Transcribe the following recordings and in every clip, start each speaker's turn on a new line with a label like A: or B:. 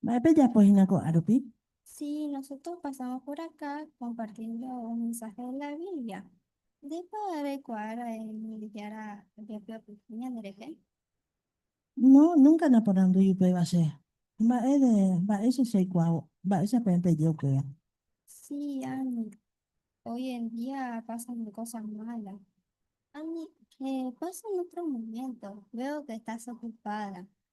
A: Mba'e pejapo hína ko'ã rupi? Si nosotros
B: pasamos por acá compartiendo un mensaje de la Biblia, ndépa reikuaára Ñandejára ojapyapyhy ñanderehe?
A: No, nunca naporandúi upéva che. Mba'e de mba'éicha chaikuaávo? Mba'éicha peẽ peje upéva? Si,
B: ani. Hoy en día pasan cosas malas. Ani, eh, pasan otros momentos. Veo que estás ocupada.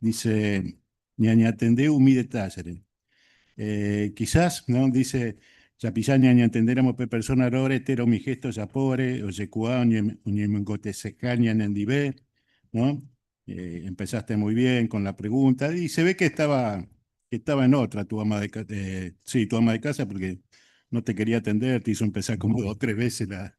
C: dice, ñañatende umi detálleri. Eh, quizás, ¿no? Dice, tapicha ñañatendéramo pe persona róre entero umi gesto ojapóvare, ojekuaa oñemongoteseka ñanendive, ¿no? Eh, empezaste muy bien con la pregunta, y se ve que estaba, que estaba en otra tu ama de, eh, sí, tu ama de casa, porque no te quería atender, te hizo empezar como dos o tres veces la,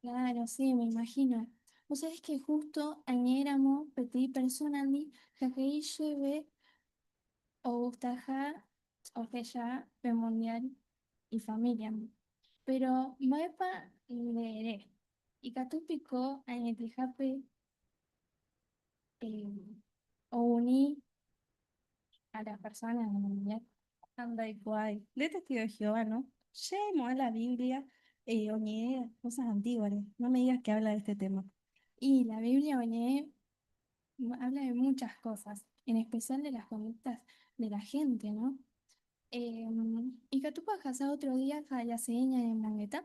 A: Claro, sí,
B: me imagino. Vos sabés que justo añéramo peteĩ persónandi ha he'i chéve ogustaha ohecha pe Mundial ifamíliandi. Péro mba'épa nde ere? Ikatu piko añetehápe ouni a las personas en mundial. Andaikuaái.
A: Nde testigo de Jehová, no. Che mo'ã la Biblia oñe'ẽ cosas antiguas-re. No me digas que habla de este tema. Y la Biblia
B: oñe'ẽ, habla de muchas cosas, en especial de las conductas de la gente, no. Ikatúpa ohasa otro día ha jase'ẽ ñanemongeta?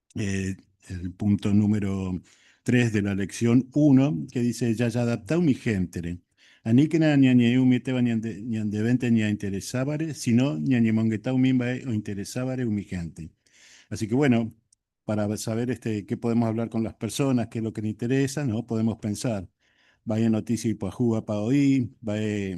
C: eh, el punto número 3 de la lección 1, que dice, ya ya adapta mi gente. Ani que nada ña ñe umi teba ña de vente ña interesabare, sino ña ñe mongeta umi mbae o interesabare umi gente. Así que bueno, para saber este, qué podemos hablar con las personas, qué es lo que le interesa, ¿no? Podemos pensar, vaya noticia y pajúa pa oí, vaya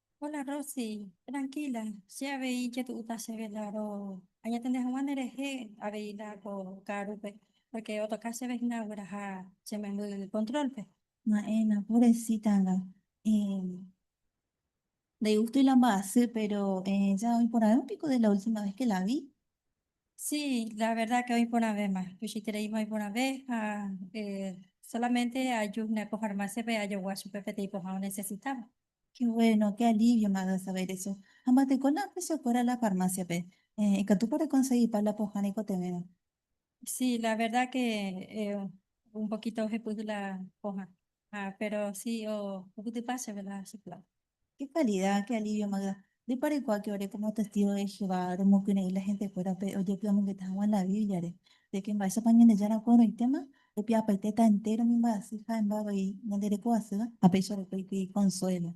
A: Hola Rosy,
D: tranquila, che avei jetu'úta chéve Laro añetende hag̃ua nerehe avei la ko ka'arúpe, pórke otoka chéve hína ogueraha che memby kontrólpe. Na'ẽna,
A: pobresítanga. Ndaigústoi la mba'asy, péro ja oĩporãvéma piko de la última ves ke la vi? Sí,
D: la verda ke oĩporãvéma. Tuichaitereíma oĩporãve ha solamente aju hína ko farmásiape ajogua chupe peteĩ pohã onesesitáva. Qué bueno,
A: qué alivio me ha dado saber eso. Ha mba'eteko la ofreció kuéra la farmáciape. Eh, ikatúpa rekonsegipa la pohã reikotevẽva. Sí, la
D: verdad que eh, un poquito ohepyhy la pohã. Ah, pero sí, oh, ohupytypa
A: chéve
D: la
A: chiflado.
D: Qué
A: calidad,
D: qué alivio
A: me ha
D: dado. Ndépa
A: reikuaáke ore kómo testígo de Jehová romokyre'ỹ la hentekuérape ojepy'amongeta hag̃ua la Bíbliare de ke mba'éichapa Ñandejára oporãitéma? Opi'apaitéta entéro umi mba'asy ha'émba avei ñande reko asýva ha péicha reko ikýi konsuélo.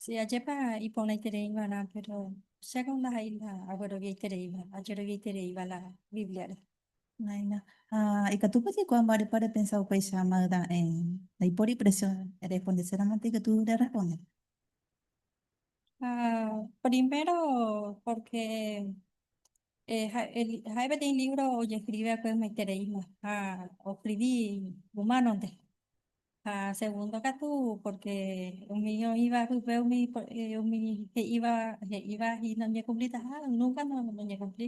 D: Si, ajépa iporãitereiva'erã, péro chéko ndaha'éi la agueroviaitereíva, ajeroviaitereíva la Bíbliare. Naina.
A: Ha ikatúpa jaikuaa mba'érepa repensa upéicha mayda'e. Ndaipóri presión rerespondeséramoite ikatu reresponde. Ah,
D: primero, porque eh, ja- el- jae peteĩ libro ojeskrive va'ekue ymaitereísmo ha oscrivi humánonte. Ha segundo katu, porque umi oĩva pype umi por- eh, umi he'íva he'íva y noñekumplitaha, nunca no- noñekumpli.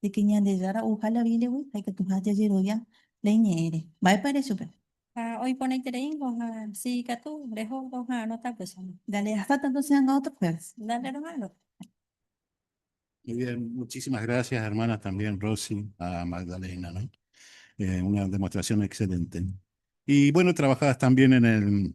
A: de que Ñandejára ouha la Bíbliagui ha ikatuha jajerovia la Iñe'ẽre. Mba'épa ere chupe? Ha oiporãitereíngo,
D: ha si ikatu reho, roha'arõta upéicha. Dale, hasta tanto se
A: ha'anga otro jueves. Dale, roha'arõ.
C: Muy bien, muchísimas gracias hermanas también Rosy a Magdalena, ¿no? Eh, una demostración excelente. Y bueno, trabajadas también en el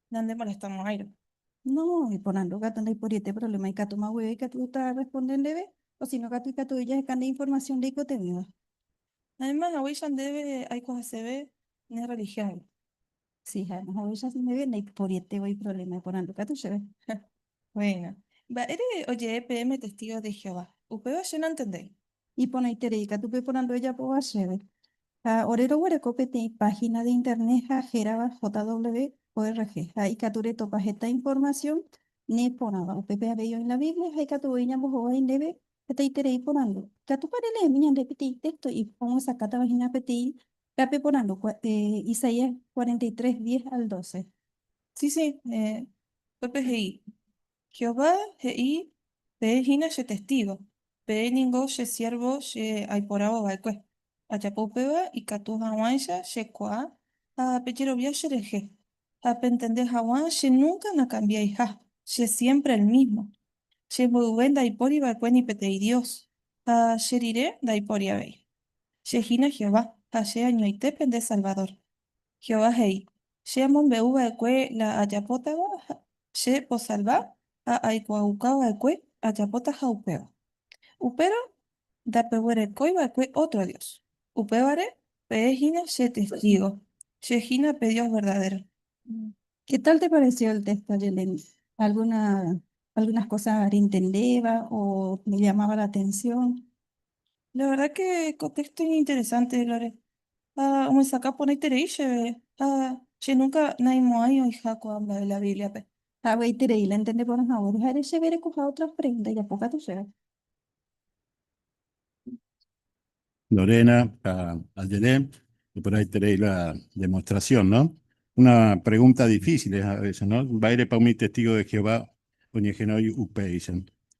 B: Nandemolestamorãirõ. No,
A: iporãndu katu ndoiporietéi provléma ikatúma guive ikatu tarresponde ndéve, osíno katu ikatugui jaheka nde informasión ndaikotevẽva. Mayma
B: haguéicha ndéve aiko heseve ne rrelihióngui. Si, ha'éma
A: haguéicha ndéve ndaiporietévo iprovléma iporãndu katu chéve. Buena.
B: Mba'ére ojee peẽme testigos de Jehová? Upéva che nantende. Iporãiterei
A: katu pe porandu ejapóva chéve. Ha ore roguereko peteĩ página de internet ha hérava JW-ORG ha ikatu retopa heta información ne porãva. Upépe avei oĩ la Biblia ha ikatu voi ñambohovái ndéve hetaiterei porandu. Ikatúpa releemi ñande peteĩ texto omyesakátava hína peteĩ rape porandu, Isaías 43, 10 al 12? Sí, sí.
B: Upépe he'i, Jehová he'i, Peẽ hína che testígo, peẽ ningo che siérvo che aiporavo va'ekue. Ajapo upéva ikatu hag̃uáicha che kuaa ha pejerovia cherehe, ha pentende hag̃ua che núnka nakambiaiha, che siémpre el mísmo. Che mboyve ndaipóri va'ekue ni peteĩ dios, ha che rire ndaipóri avei. Che hína Jehová, ha che añoite pende Salvadór. Jehová he'i, Che amombe'u va'ekue la ajapótava che osalva ha aikuaauka va'ekue ajapóta ha upéva. Upérõ ndapeguerekói va'ekue ótro dios. Upévare peẽ hína che testígo, che hína pe Dios verdadéro. Ke
A: tál te paresévo el téxto de Leni? Algúna, algúnas kósa rentendéva o nellamáva la atensión? La verdad
B: que contexto interesante, Lore. Ah, me saca poneiterei chévere. Ah, che nunca naimo'ãi oĩha ko'ã mba'e la Bíbliape. Hagueiterei la
A: entende porã haguére ha'ére chéve rekoha otras preguntas japo katu chéve.
C: Lorena, ah, ajere operaiterei la demostración, no? Una pregunta difícil a veces, no? Mba'érepa umi testigos de Jehová oñehenói upéicha?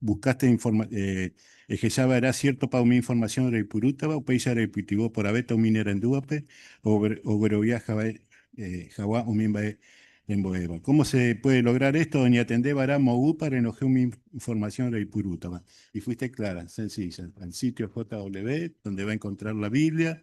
C: Buscaste informa, eh, ehecha va'erã siértopa umi informasión reipurútava, upéicha reipytyvõ poravéta umi nerendúvape oguerovia hag̃ua, eh, hag̃ua umi mba'e rembo'éva. Kómo se puede lograr esto? Oñatende va'erã moõguýpa renohẽ umi informasión reipurútava. Y fuiste clara, sencilla, al sitio JW, donde va a encontrar la Biblia,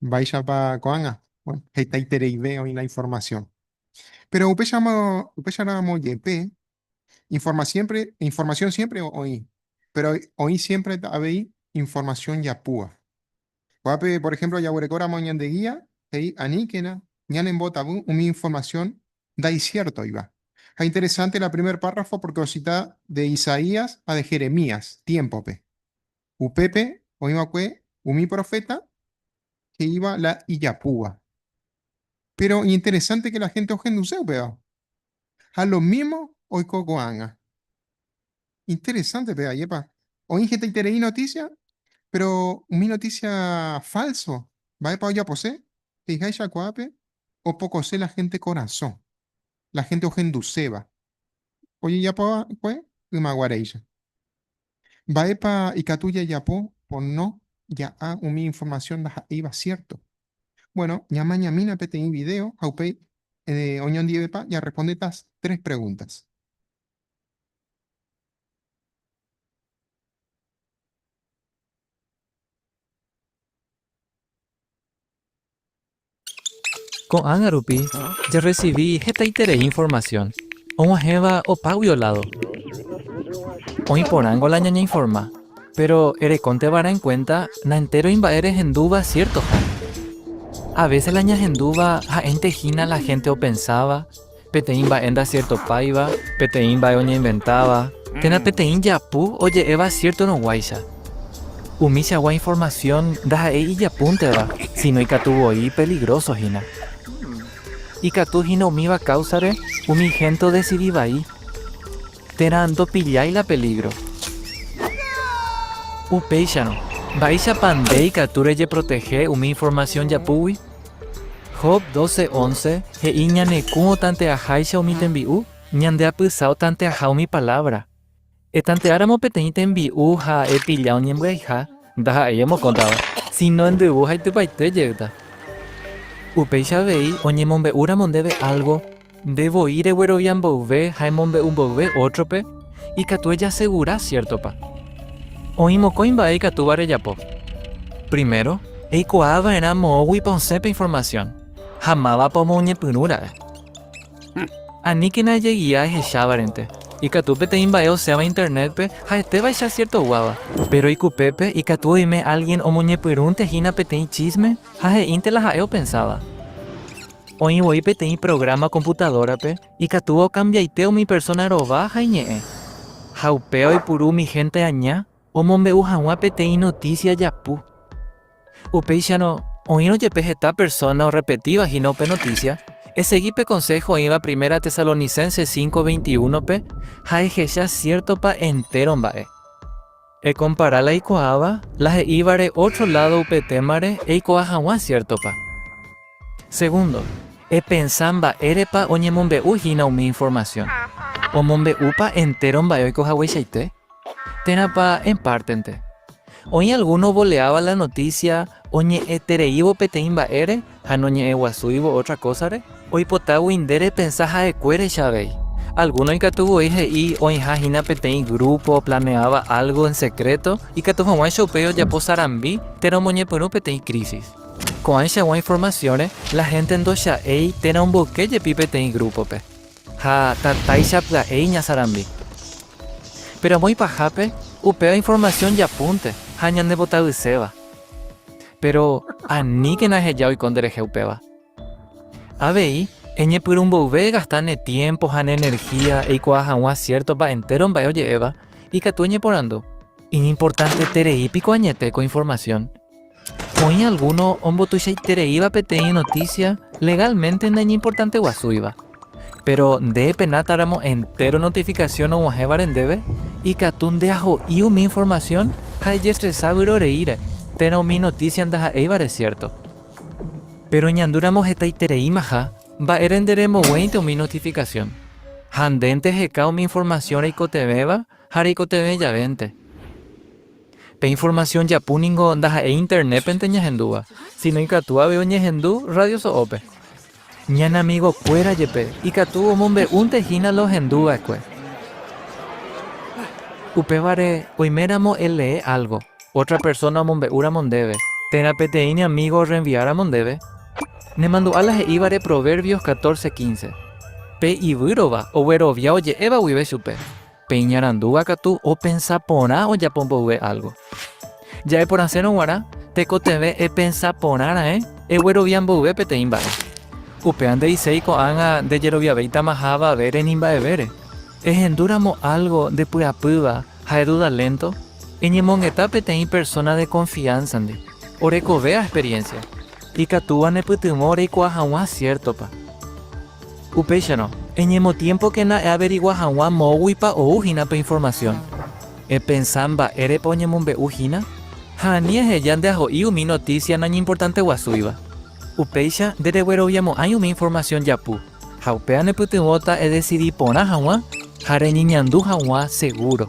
E: Mba'éichapa ko'ág̃a? Bueno, hetaitereive oĩ la informasiõ. Péro upéicharamo, upéicharamo jepe, informa siémpre, informasiõ siémpre oĩ, péro oĩ siémpre avei informasiõ japúva. Ko'ápe, por ehémplo, jaguerekóramo ñande gía, he'i aníkena ñanembotavy umi informasiõ ndaisiértoiva. Ha interesánte la primer párrafo pórke osita de Isaías ha de Jeremías tiémpope. Upépe oĩ va'ekue umi proféta he'íva la ijapúva. Péro iñinteresánte la hénte ohenduse upéva. Ha lo mísmo oiko ko'ág̃a. Interesánte pe ajépa. Oĩ hetaiterei notísia, péro umi notísia fálso mba'épa ojapose? He'iháicha ko'ápe opokose la hénte korasõ, la hénte ohenduséva ojejapo va'ekue ymaguaréicha. Mba'épa ikatu jajapo pono ja'a umi informasión ndaha'éiva siérto? Buéno, ñamañamína peteĩ vidéo ha upéi oñondivepa jarrespondéta tres pregúntas.
F: Ko'ág̃a rupi jarresivi hetaiterei informasión og̃uahẽva opágui oládo. Oĩ porãngo la ñañeinforma, péro erekónte va'erã en kuénta naentéro imba'e rehendúva siértoha. A vése la ñahendúva ha'énte hína la hénte opensáva peteĩ mba'e ndasiertopáiva, peteĩ mba'e oñeinventáva, térã peteĩ japu oje'éva siértoroguáicha. Umichagua informasión ndaha'éi ijapúnteva, síno ikatu voi peligróso hína. Ikatu hína umíva káusare umi hénte odesidi vai térã ndopillái la pelígro. Upéicharõ, mba'éichapa nde ikatu rejeprotehe umi informasión japúgui? Job 12, 11, he'i ñane kũ otante'aháicha umi tembi'u, ñande apysa otante'aha umi palávra. Etante'áramo peteĩ tembi'u ha epilla oñembyaiha, ndaha'éi emokõtava, síno endyvu ha itypaite jeýta. Upéicha avei, oñemombe'úramo ndéve álgo, Nde voi reguerovia mboyve ha emombe'u mboyve ótrope, ikatu ejasegura, siértopa? Oĩ mokõi mba'e ikatúva rejapo. Primero, eikuaa va'erã moõguipa osẽpe informasión ha mávapa omoñepyrũ ra'e. Aníkena ejegia ehechávarente, ikatu peteĩ mba'e osẽva Internétpe ha'etévaicha siertoguáva. Péro ikupépe ikatu oime álgien omoñepyrũntehína peteĩ chísme ha he'ínte la ha'e opensáva. Oĩ voi peteĩ programa computadora-pe ikatúva okambiaite umi persona rova ha iñe'ẽ. Ha upéva oipuru umi hénte aña omombe'u hag̃ua peteĩ notísia japu. Upéicharõ, oĩrõ jepe heta persona orrepetíva hína upe notísia, esegi pe konsého oĩva Primera Tesalonicenses cinco veintiuno-pe ha ehecha siértopa entéro mba'e. Ekompara la ikuaáva la he'ívare ótro ládo upe témare eikuaa hag̃ua siértopa. Segundo, epensa mba'érepa oñemombe'u hína umi informasión. Omombe'úpa entéro mba'e oiko hagueichaite? Térãpa en pártente? Oĩ algúno ovoleáva la notísia oñe'ẽtereívo peteĩ mba'ére ha noñe'ẽguasúivo ótra kósare? Oipotágui nde repensa ha'ekuérecha avei. Algúno ikatu voi he'i oĩha hína peteĩ grúpo oplaneáva álgo en sekréto ikatu hag̃ua che upéi ojapo sarambi térã omoñepyrũ peteĩ krísis. Ko'ãichagua informasiónre, la hénte ndocha'éi térã omboyke jepi peteĩ grúpope. Ha tatáicha pya'éi ñasarambi. Péro amo ipahápe, upéva informasión japúnte ha ñanepotavyiséva. Péro aníkena eheja oiko nderehe upéva. Avei, eñepyrũ mboyve egasta ne tiémpo ha ne enerhía eikuaa hag̃ua siértopa entéro mba'e oje'éva, ikatu eñeporandu, Iñimportanteterei piko añete ko informasión? Oĩ algúno ombotuichaitereíva peteĩ notísia legálmente naiñimportante guasúiva. Péro nde penátáramo entéro notifikasión og̃uahẽvare ndéve, ikatu ndeaho'i umi informasión ha ejestresa vyroreíre térã umi notísia ndaha'éivare siérto. Péro ñandúramo hetaitereímaha mba'ére nde remboguéinte umi notifikasión ha ndénte heka umi informasión reikotevẽva ha reikotevẽ javénte. Pe informasión japu ningo ndaha'éi Internépente ñahendúva, síno ikatu avei oñehendu rradioso'ópe. Ñane amigokuéra jepe ikatu omombe'únte hína la ohendu va'ekue. Upévare, oiméramo elee álgo, ótra persóna omombe'úramo ndéve, térã peteĩ ne amígo orrenviáramo ndéve, nemandu'a la he'ívare Proverbios catorce quince, Pe ivýrova oguerovia oje'éva guive chupe. Pe iñarandúva katu opensa porã ojapo mboyve álgo. Ja'eporãsérõ g̃uarã, tekotevẽ epensa porã raẽ eguerovia mboyve peteĩ mba'e. Upéva nde'iséi ko'ág̃a ndejeroviavéitamaha avavére ni mba'evére. Ehendúramo álgo ndepy'apýva ha eduda lénto, eñemongeta peteĩ persóna de konfiánsandi, orekovéva experiénsia. Ikatúva nepytyvõ reikuaa hag̃ua siértopa. Upéicharõ, eñemotiémpokena eaverigua hag̃ua moõguipa ou hína pe informasión. Epensa mba'érepa oñemombe'u hína, ha ani eheja nde aho'i umi notísia nañimportánte guasúiva. Upéicha nderegueroviamo'ãi umi informasión japu, ha upéva nepytyvõta edesidi porã hag̃ua ha reñeñandu hag̃ua segúro.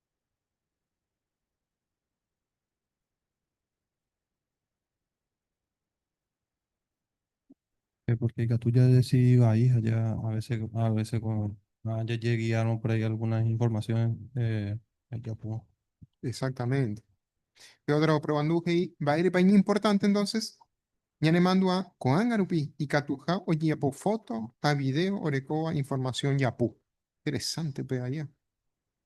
G: Eh, Porque ikatu jadecidi vai ha ja a veces, a veces con- ah, jajeguiárõ por ahí algunas informaciones eh, jajapo. Exactamente.
E: Pedro oprovandu he'i mba'érepa iñimportante entonces ñanemandu'a ko'ág̃a rupi ikatuha ojejapo foto ha video orekóva información japu. Interesante pe aja.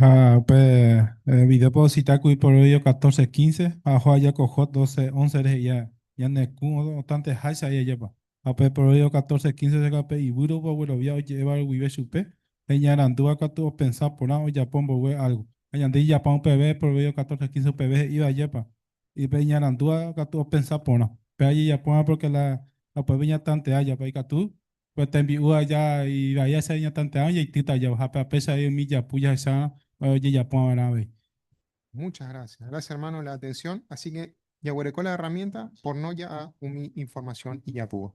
E: Ha
G: pe video pe ocita kuri Proverbio 14, 15, ha oho aja ko Job 12, 11 rehe ia ñane kũ otãnte háicha ai ajépa. Ha pe Proverbio 14, 15 rega pe ivýro opa oguerovia oje'évare guive chupe, ha iñarandúva katu opensa porã ojapo mboyve álgo. Ha ñande ijapã upeve Proverbio 14, 15 upeve he'íva ajépa, pe iñarandúva katu opensa porã. Péva jejapóramo pórke la upépe ñatantea japa ikatu Pe tembi'u aja ivai aja iñatante'ã ojeitýta aja ojape ha péicha avei umi japu jahecharã ojejapu'ã va'erã avei. Muchas
E: gracias. Gracias hermano la atención. Así que jaguereko la herramienta por no ja'a umi información ijapúva.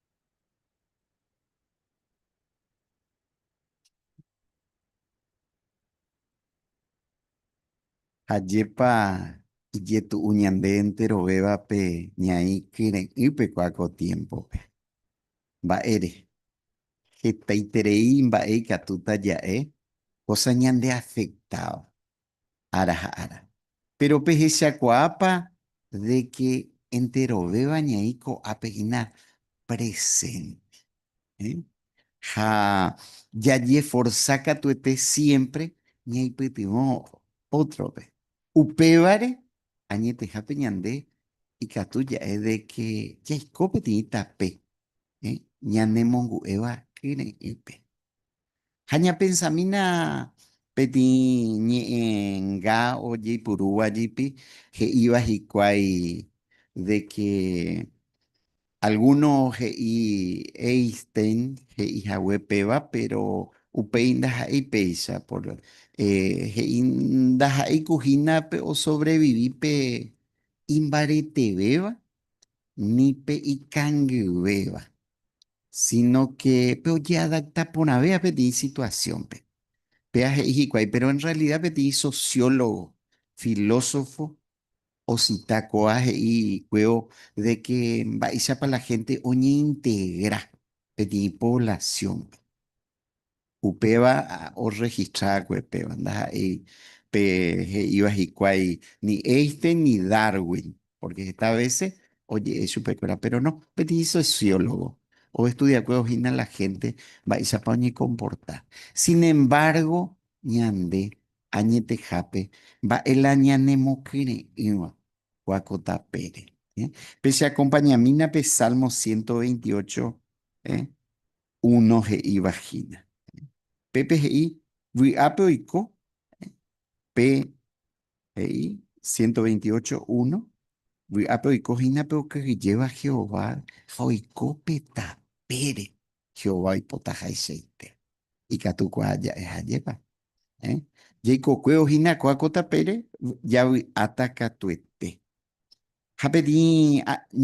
H: Ha jepa ijetu'u ñande enterovéva pe ñaĩ kyre'ỹpe kua ko tiémpope. Mba'ére? Hetaiterei mba'e ikatúta ja'e kósa ñandeafektáva. ára ha ára. Péro pehechakuaápa de ke enterovéva ñaĩ ko'ápe hína presénte? Ha jajeforsa katuete siémpre ñaipytyvõ ótrope. Upévare, añetehápe ñande ikatu ja'e de ke jaiko peteĩ tape ñanemongu'éva kyre'ỹpe. Ha ñapensamína peteĩ ñe'ẽnga ojeipurúva jepi he'íva hikuái de ke algúno he'i Einstein he'ihague péva, péro upéi ndaha'éi péicha. Por he'i ndaha'éi ku hína pe osovrevivi pe imbaretevéva ni pe ikangyvéva. Sínóke pe ojeadakta porãve ha peteĩ situasiónpe. Péa he'i hikuái, péro en rrealida peteĩ sosiólogo, filósofo osita kóva he'i kuévo de ke mba'éichapa la hénte oñeintegra peteĩ poblasiónpe. Upéva orregistraakuepéva ndaha'éi pe he'íva hikuái ni Einstein ni Darwin, pórke heta vése oje'e chupekuéra. Péro no, peteĩ sosiólogo ovestudiakue ohína la hénte mba'éichapa oñekomporta. Sinembárgo ñande añetehápe mba'e la ñanemokyre'ỹva kua ko tapére. Pecheakompañamína pe Salmo ciento veintiocho, Uno he'i vagina. Pépe he'i vy'ápe oiko pe he'i ciento veintiocho uno, vy'ápe oiko hína pe okyhyjéva Jehová ha oiko pe tapére. Jehová oipota haichaite. Ikatu kua ja'e ha jepá. Jaikokuévo hína kua ko tapére, javy'áta katuete. Ha peteĩ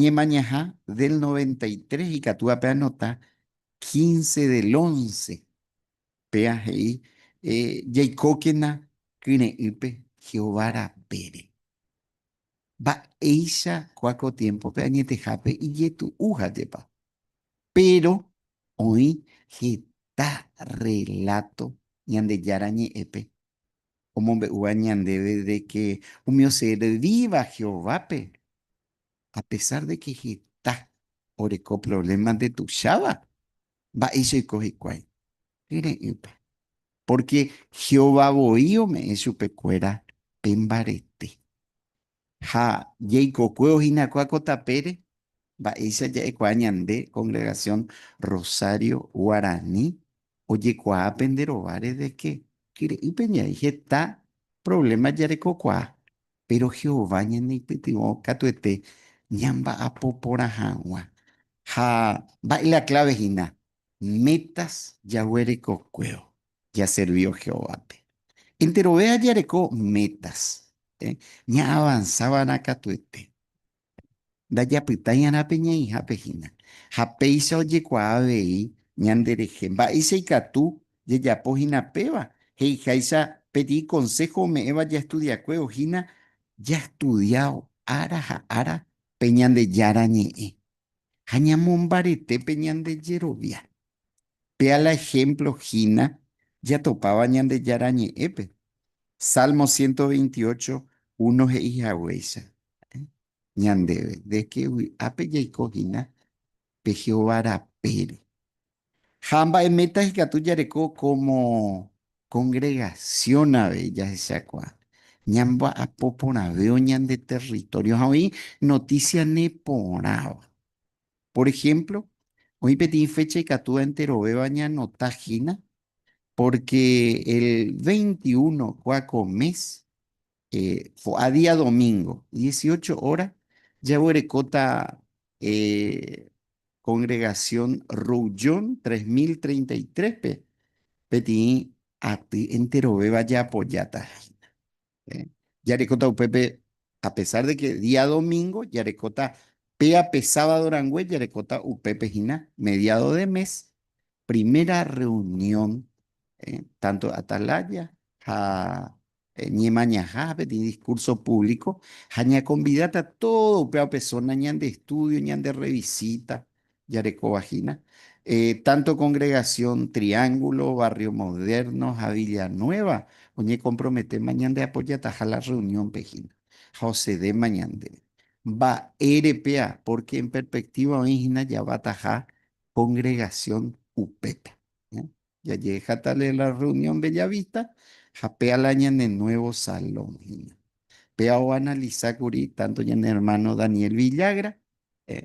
H: ñemañaha del noventa y tres ikatúva pe anota quince del once, péva he'i jaikókena kyre'ỹpe Jehová rapére. Mba'éicha kua ko tiémpope añetehápe ijetu'u ha'épa. Péro oĩ heta rreláto Ñandejára Ñe'ẽpe omombe'úva ñandéve de ke umi oservíva Jehovápe apesár de ke heta oreko provléma ndetuicháva. Mba'éicha oiko hikuái? Kyre'ỹpa. Pórke Jehová voi ome'ẽ chupekuéra pe mbarete. Ha jaikokuévo hinakuã ko tapére, mba'éicha ja'ekuaa ñande Congregación Rosario Guarani ojekuaa pende rováre de que, kyre'ỹ peñaĩ heta provléma jarekokuaa, péro Jehová ñaneipytyvõ katuete ñamba'apo porã hag̃ua. Ha mba'e la kláve hína? Métas jaguerekokuévo. jaservívo Jehovápe. Enterove jajareko métas ñaavansa va'erã katuete. Ndajapytãiarã pe ñe'ẽihápe hína, ha péicha ojekuaa avei ñanderehe mba'éicha ikatu jajapo hína péva. He'iháicha pe di konsého ome'ẽva jaestudiakuévo hína, jastudiávo ára ha ára pe Ñandejára Ñe'ẽ ha ñamombarete pe ñande jerovia. Péa la ehémplo hína jatopáva Ñandejára Ñe'ẽpe. Sálmo ciento veintiocho uno he'i haguéicha ñandéve de ke vy'ápe jaiko hína pe Jehová rapére. Ha mba'eméta ikatu jareko kómo kongregasión avei jahechakuaa, ñamba'apo porãvévo ñande território ha oĩ notísia neporãva. Por ehémplo, oĩ peteĩ fécha ikatu enterovéva ñanota hína, pórke el veinti uno kua ko mes, fo'a día domingo, dieciocho óra, jaguerekóta kongregasión Roujon tres mil treinta y tréspe peteĩ aty enterovéva jaapojáta hína. Jarekóta upépe a pesar de que día domingo, jarekóta péa pe sábado rangue, jarekóta upépe hína mediado de mes, primera reunión tanto Atalaya ha Ñemañaha peteĩ discurso público ha ñakonvidáta todo upéva persona ñande estudio, ñande revisita, jarekovahína, tanto Congregación Triángulo, Barrio Moderno ha Villanueva oñekomprometéma ñandeapojataha la rreuniónpe hína ha osedéma ñandéve. Mba'ére péa? Pórke en perpektíva oĩ hína javataha kongregasión upépe. Jajehejáta la la reunión Bellavista ha péa la ñane nuevo salón hína. Péa oanalisa kuri tanto ñane hermano Daniel Villagra,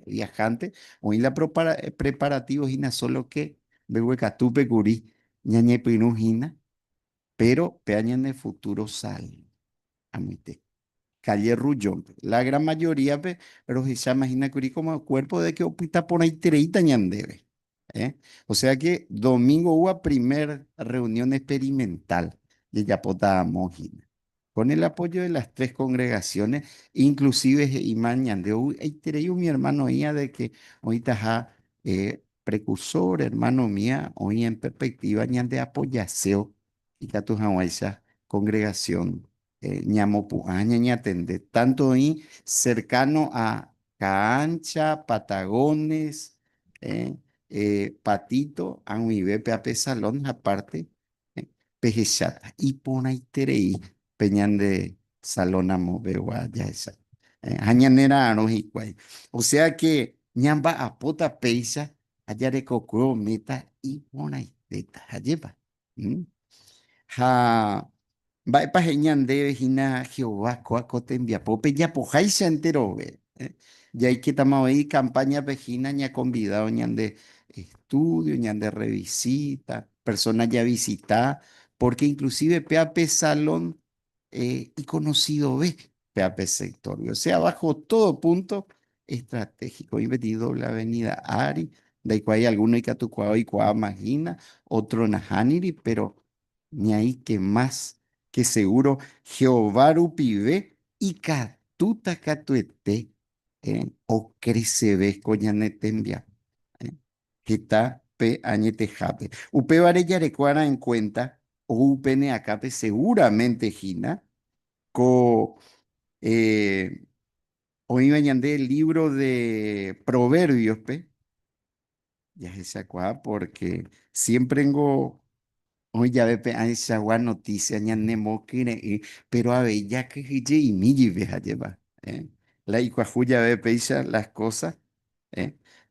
H: viajante, oĩ la preparativo hína solo que mbeguekatúpe kuri ñañepyrũ hína, péro péa ñane futuro salón. Amoite. Calle Ruyónpe. La gran mayoríape rohecháma hína kuri como cuerpo de que opyta porãitereíta ñandéve. Eh? O sea que domingo hubo primer reunión experimental de Yapota Amógina. Con el apoyo de las tres congregaciones, inclusive Imán Ñandeu, Eitereyu, mi hermano Ia, de que ahorita ja eh, precursor, hermano mía, hoy en perspectiva, Ñande apoyaseo, y Catujahuaiza, congregación ñamopu'ã ñañatende tanto oĩ cercano a Caancha, Patagones, Patito ag̃uive pe ape salón ha parte pehecháta iporãiterei pe ñande salón amopegua jahecha ha ñanera'arõ hikuái. O sea que ñamba'apóta péicha ha jarekokue ometa iporãitéta, ajépa. Ha mba'épa he'i ñandéve hína Jehová kóa ko tembiapo pejapoháicha enterove? Jaikétama avei icampáñape hína ñakonvidávo ñande estúdio, ñande rrevisíta, persóna javisita, pórke inklusíve péva pe Salón eh, iconocidove pe ape sector. O sea, bajo todo punto estratégico. Oime tĩ doble avenida ári, ndaikuaái alguno ikatukuaa oikuaa mahina, otro nahániri, pero ñaĩ que más que seguro Jehová rupive ikatúta katuete eh, ocreceve ko ñane tembiapo. heta pe añetehápe. Upévare jareko'arã en kuénta ou pene akãpe segúramente hína ko oĩva ñande lívro de Provérbiospe jahechakuaa pórke siémprengo Oĩ jave pe aechagua notísia ñanemokyre'ỹ, péro avei jakyhyjeimi jeýpe hajépa. La ikuahu jave péicha las kósa.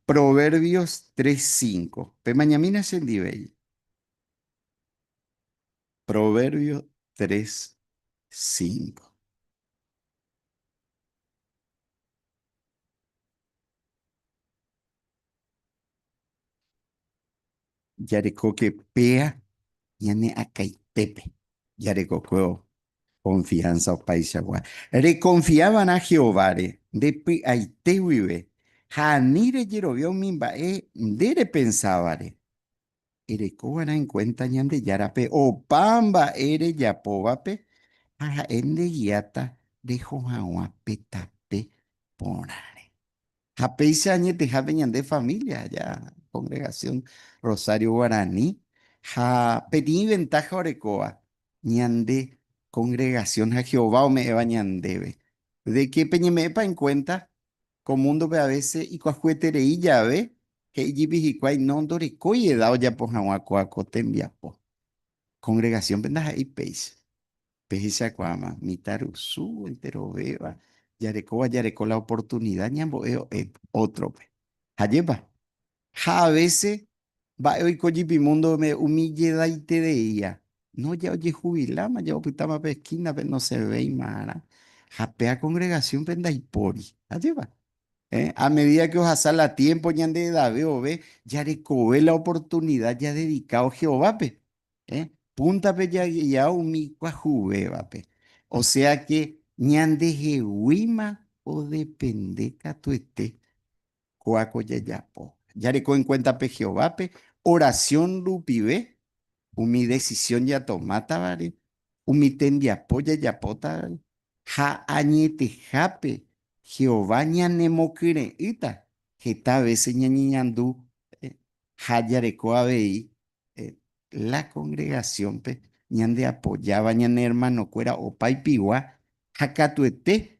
H: Proverbios tres cinco. Pemañamína chendivéi. Proverbios tres cinco. Jarekóke péa ñane akãitépe jarekokue konfiánsa opaichagua. Rekonfia va'erã Jehováre nde py'aite guive ha ani rejerovia umi mba'e nde repensávare. Ereko va'erã en cuenta Ñandejárape opa mba'e rejapóvape ha ha'e ndegiáta reho hag̃ua pe tape porãre. Ha péicha añetehápe ñande familia aja Congregación Rosario Guarani ha peteĩ ventaja orekóva ñande congregación ha Jehová ome'ẽva ñandéve, de que peñeme'ẽpa en cuenta Ko múndope a vése ikuahueterei jave, he'i jepi hikuái no ndorekói eda ojapo hag̃ua kóa ko tembiapo. Kongregasiónpe ndaha'éi péicha. Pehechakuaáma, mitã rusu enterovéva jarekóva jareko la oportunida ñambo'e o'e ótrope. Ha jepa, Ha a vése, mba'e oiko jepi múndope umi jedaitereíva, no ja ojehuviláma, ja opytáma pe eskínape, nosẽvéimava'erã, ha pe akongregasiónpe ndaipóri. Ajépa! Héẽ, a medída ke ohasa la tiémpo ñande edave ove, jarekove la oportunida jadedikao Jehovápe. Héẽ, púntape jaguia umi kuahuvévape. Osea ke ñandeheguíma odepende katuete. Kóako jajapo. Jareko enkuéntape Jehovápe orasión rupive, umi desisión jatomátavare, umi tembiapo jajapótavare, ha añetehápe Jehová ñanemokyre'ỹta heta vése ñañeñandu ha jareko avei la kongregasiónpe ñandeapojáva ñane ermanokuéra opaipigua ha katuete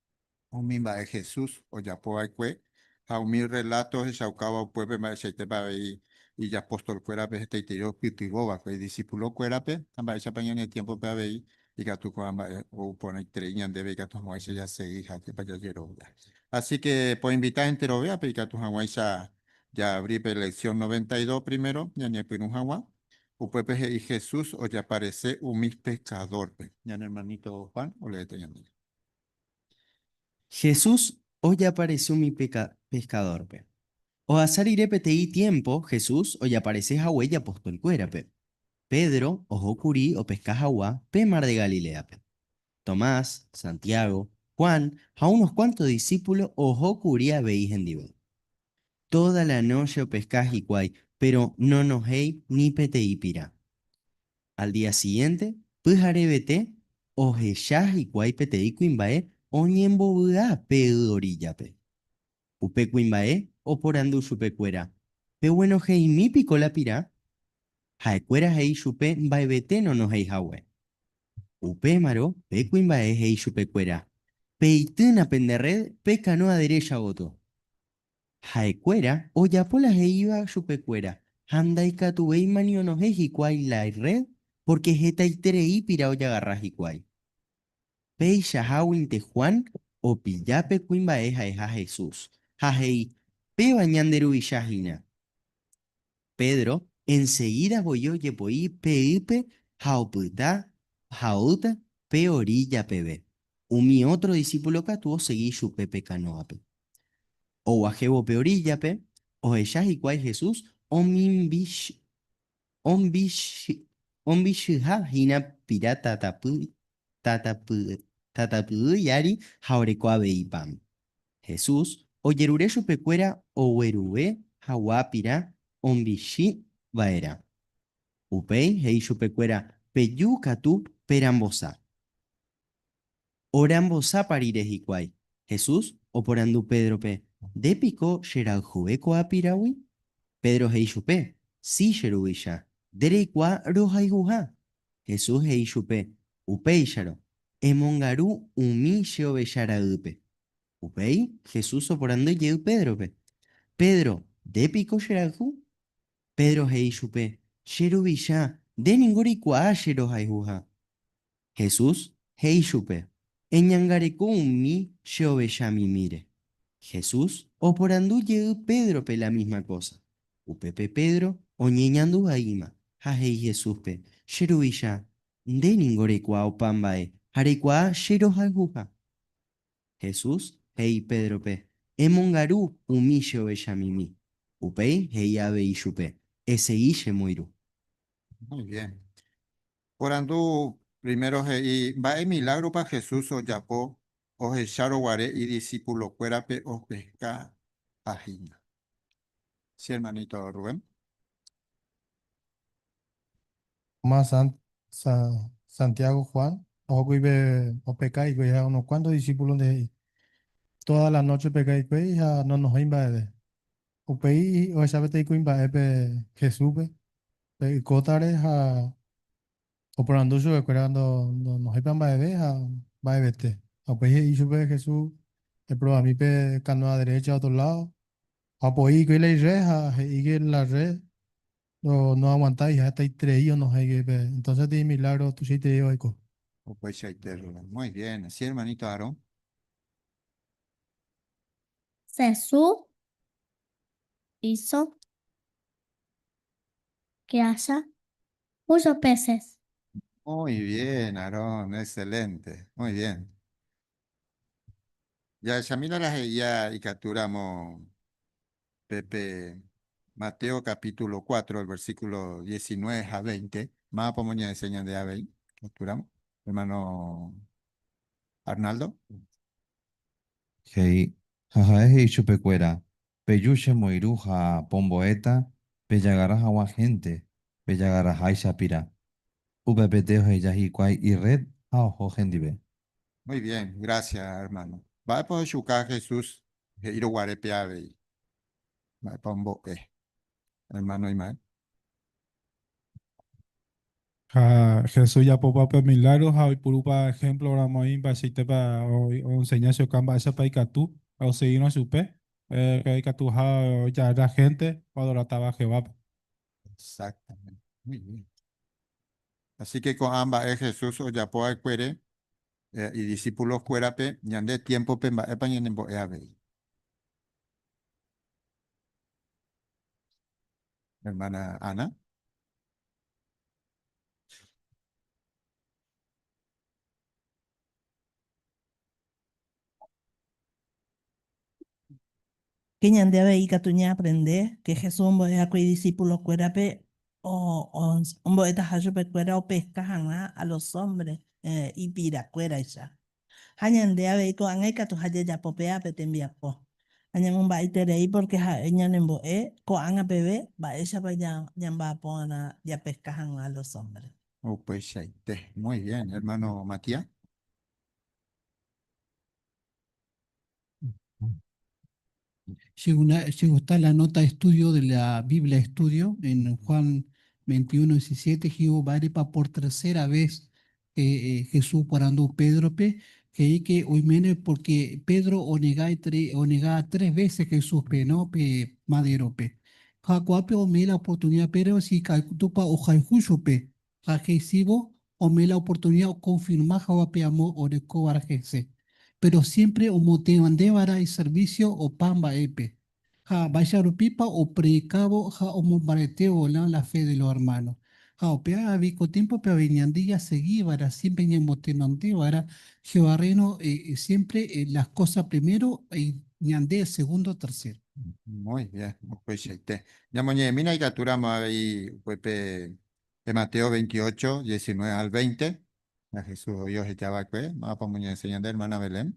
I: Umi mba'e Jesús ojapo va'ekue ha umi rreláto ohechaukáva upépe mba'eichaitépa avei ijapostolkuérape hetaiterei opytyvõ va'ekue idisipulokuérape ha mba'éichapa ñane tiémpope avei ikatu ko'ã mba'e ou porãiterei ñandéve ikatu hag̃uáicha jasegi ha ajépa jajerovia. Asíke poinvita enterovéape ikatu hag̃uáicha jaavri pe leksión noventa y dos primero ñañepyrũ hag̃ua. Upépe he'i Jesús ojaparese umi pekadórpe. Ñane ermaníto Juan oleéta ñandéve.
J: Jesús ojeaparese umi peskadórpe. Ohasa rire peteĩ tiémpo, Jesús ojeaparese hague ijapostolkuérape. Pedro oho kuri opeska hagua pe Mar de Galiléape. Tomás, Santiago, Juan ha unos kuánto disípulo oho kuri avei hendive. Tóda la nóche opeska hikuái, péro nonohéi ni peteĩ pira. Al día siguiente, pyharevete, ohecha hikuái peteĩ kuimba'e oñembovy'a pe y oríllape. Upe kuimba'e oporandu chupekuéra, Peguenojeimi piko la pira? Ha'ekuéra he'i chupe mba'evete nonohéi hague. Upémarõ pe kuimba'e he'i chupekuéra, Peitýna pende rréd pe kanóa derécha gotyo. Ha'ekuéra ojapo la he'íva chupekuéra ha ndaikatuvéima ni onohẽ hikuái la irréd pórke hetaiterei pira ojagarra hikuái. Peichaháguinte Juan opilla pe kuimba'e ha'eha Jesús ha he'i, Péva ñande Ruvicha hína. Pedro enseguida voi ojepo'i pe ýpe ha opyta ha oúta pe orílla peve. Umi ótro disípulo katu osegi chupe pe kanóape. Oguahẽvo pe oríllape, ohecha hikuái Jesús ombichyha hína pira tatapy tatapyýi ári ha oreko avei pan. Jesús ojerure chupekuéra oguerue hagua pirã ombichy vaerã. Upéi he'i chupekuéra, Peju katu perambosa. Orambosápa rire hikuái? Jesús oporandu Pédrope, Nde piko cherayhuve ko'ã piragui? Pedro he'i chupe, Sí, che ruvicha, nde reikuaa rohayhuha. Jesús he'i chupe, Upéicharõ, emongaru umi che ovecha raýpe. Upéi Jesús oporandu jey Pédrope, Pedro, nde piko che rayhu? Pedro he'i chupe, Che Ruvicha, nde ningo reikuaa che rohayhuha. Jesús he'i chupe, Eñangareko umi che ovecha mimíre. Jesús oporandu jey Pédrope la misma kósa. Upépe Pedro oñeñandu vaíma ha he'i Jesúspe, Che Ruvicha, Nde ningo reikuaa opa mba'e ha reikuaa che rohayhuha. Jesús he'i Pédrope, Emongaru umi che ovechamimi. Upéi he'i avei chupe, Esegi che moiru. Muy
I: bien. Porandu primero he'i mba'e milágropa Jesús ojapo ohechárõ guare idisipulokuérape opeska ha hína. Che hermanito Rubén.
G: Más an- Sa- Santiago Juan ohókuri pe opeka hikuái ha unos kuánto disípulonte he'i, Tóda la nóche opeka hikuái ha nonohói mba'eve. Upéi ohecha peteĩ kuimba'e pe Jesúspe pe y kótare ha Oporandu
K: chupekuéra nohéipa mba'eve ha mba'evete. Ha upéi he'i chupe Jesús, Eprobami pe kanoa derécha ótro ládo. Ha opoi hikuái la irre ha he'íke la rre noaguantái ha hetaiterei onohẽke pe. Entónse tee imilágro tuichaiterei oiko. Opaichaite
I: rre. Muy bien. Sí, ermanito Aaron. Jesús híso
B: grasia Muchos peces. Muy
I: bien, Aaron, excelente. Muy bien. Jahechamína la he'ia ikatúramo pe pe Mateo capítulo cuatro, el versículo diecinueve ha veinte. Máva pamo ñaense ñande avei ikatúramo, hermano Arnaldo?
L: He'i, ha ha'e he'i chupekuéra, Peju che moiru ha pombo'éta pejagarra haguã hénte pejagarraháicha pira. Upepete oheja hikuái irréd ha oho hendive. Muy bien,
I: gracias hermano. Mba'épa ohechuka Jesús he'írõ guare pe avei? Mba'épa ombo'e? Hermano Immael.
G: Ha Jesús ojapópa pe milagro ha oipurúpa ejemplo ramo oĩ mba'eichaitépa o'enseña che oka mba'éichapa ikatu ha oseguírõ chupe, eh, ikatuha ojagarra hénte oadoratáva Jehovápe. Exactamente.
I: Muy bien. Así que ko'ã mba'e Jesús ojapo va'ekuére idisipulokuérape ñande tiémpope mba'épa ñanembo'e avei. Hermana Ana.
A: Ke ñande avei ikatu ñaaprende ke Jesús ombo'eháko idisipulokuérape ombo'etaha chupekuéra opeska hag̃ua a los hombres ipirakuéraicha. Ha ñande avei ko'ág̃a ikatu ha jajapo pe ápe tembiapo. Ha ñamomba'eiterei pórke ha'e ñanembo'e ko'ág̃a peve mba'éichapa ñamba'apo g̃uarã japeska hag̃ua los hombres. Upeichaite.
I: Muy bien, hermano Matías.
M: Che, una, che gusta la nota estudio de la Biblia Estudio en Juan 21, 17. Jehová repa por tercera vez eh, Jesús porandu Pedrope, he'i que oiméne porque Pedro onega, tre, onega tres veces Jesúspe, ¿no? Pe maderope. Ha kuápe ome'ẽ la oportunidad Pedro si ikatúpa ohayhu chupe. ha he'ísivo ome la oportunida okonfirma hagua pe amo orekóvare hese, péro siémpre omotevãndévara iservísio opa mba'épe, ha mba'éicha rupípa opredikávo ha omombaretévo la la fe de los hermanos. Ha upe áravi ko tiémpope avei ñande jasegívara siémpre ñamotenondévara Jehová rréno siémpre las kósa primero ha ñande segundo, tercero. Muy bien,
I: opaichaite. Ñamoñe'ẽmína ikatúramo avei upe pe De Mateo 28, 19 al 20, ha Jesús oĩ oheja va'ekue, mávapa omoñe'ẽséi ñande hermana Belén.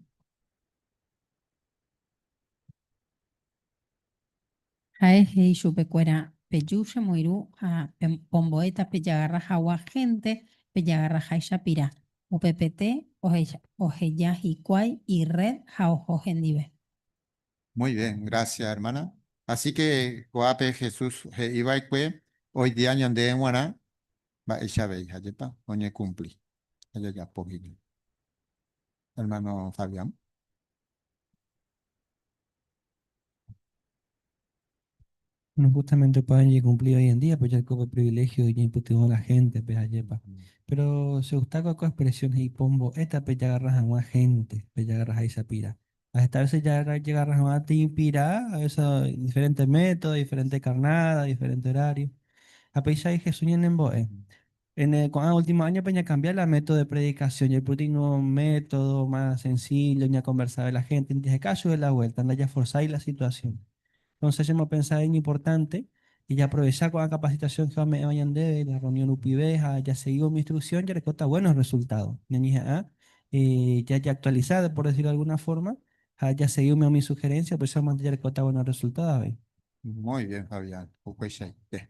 N: Ha'e he'i chupekuéra, Peju che moirũ ha pombo'éta pejagarra hagua hénte pejagarraháicha pira. Upepete oheja hikuái irréd ha oho hendive. Muy
I: bien, gracias hermana. Asi que ko'ápe Jesús he'i va'ekue oidia ñande g̃uarã mba'éicha avei ha jepa oñekumpli ha jajapo hína. Hermano Fabián.
O: No justamente opa oñekumpli hoy en día, pe jaiko pe privilegio iñeipytyvõ la gente-pe, ajépa. Péro chegustáko oiko expresión he'i pombo'éta pejagarra hag̃ua hénte, pejagarra háicha pira. Ha heta vése jagarra hag̃ua peteĩ pira, a vése diferénte método, diferénte karnáda, diferénte horário. Ha peichagui Jesús ñanembo'e, Ene ko'ã último áñope ñakambia la método de predikasión. Jaipytĩngo método más sensíllo ñakonversa la héntendi jaheka chupe la vuélta, ndajaforsái la situasión. Entónse chemopensa iñimportánte jajaprovecha ko'ã kapasitasión Jehová ome'ẽva ñandéve la rreunión rupive ha jasegi umi instruksión jarekóta buénos rresultádo. Ñañeha'ã jajeaktualisa, por desirlo de algúna fórma, ha jasegi umi umi suherénsia, upéichamante jarekóta buénos rresultádo avei. Muy bien,
I: Fabián. Upeichaite.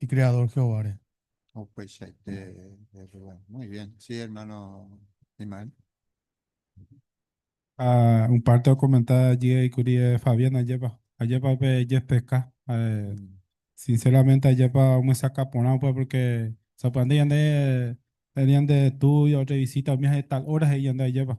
K: ikreadór Jehováre.
I: Upeichaite error. Muy
G: bien. Sí, hermano Ismael. Ha un párte okomenta jey kuri Fabián ajépa. Ajépa upe jespeka. Sinceramente ajépa omyesakã porã upe porque sapy'ánte ñande reunión de estudio, revisita umi ha'e tal hora he'i ñande ajépa.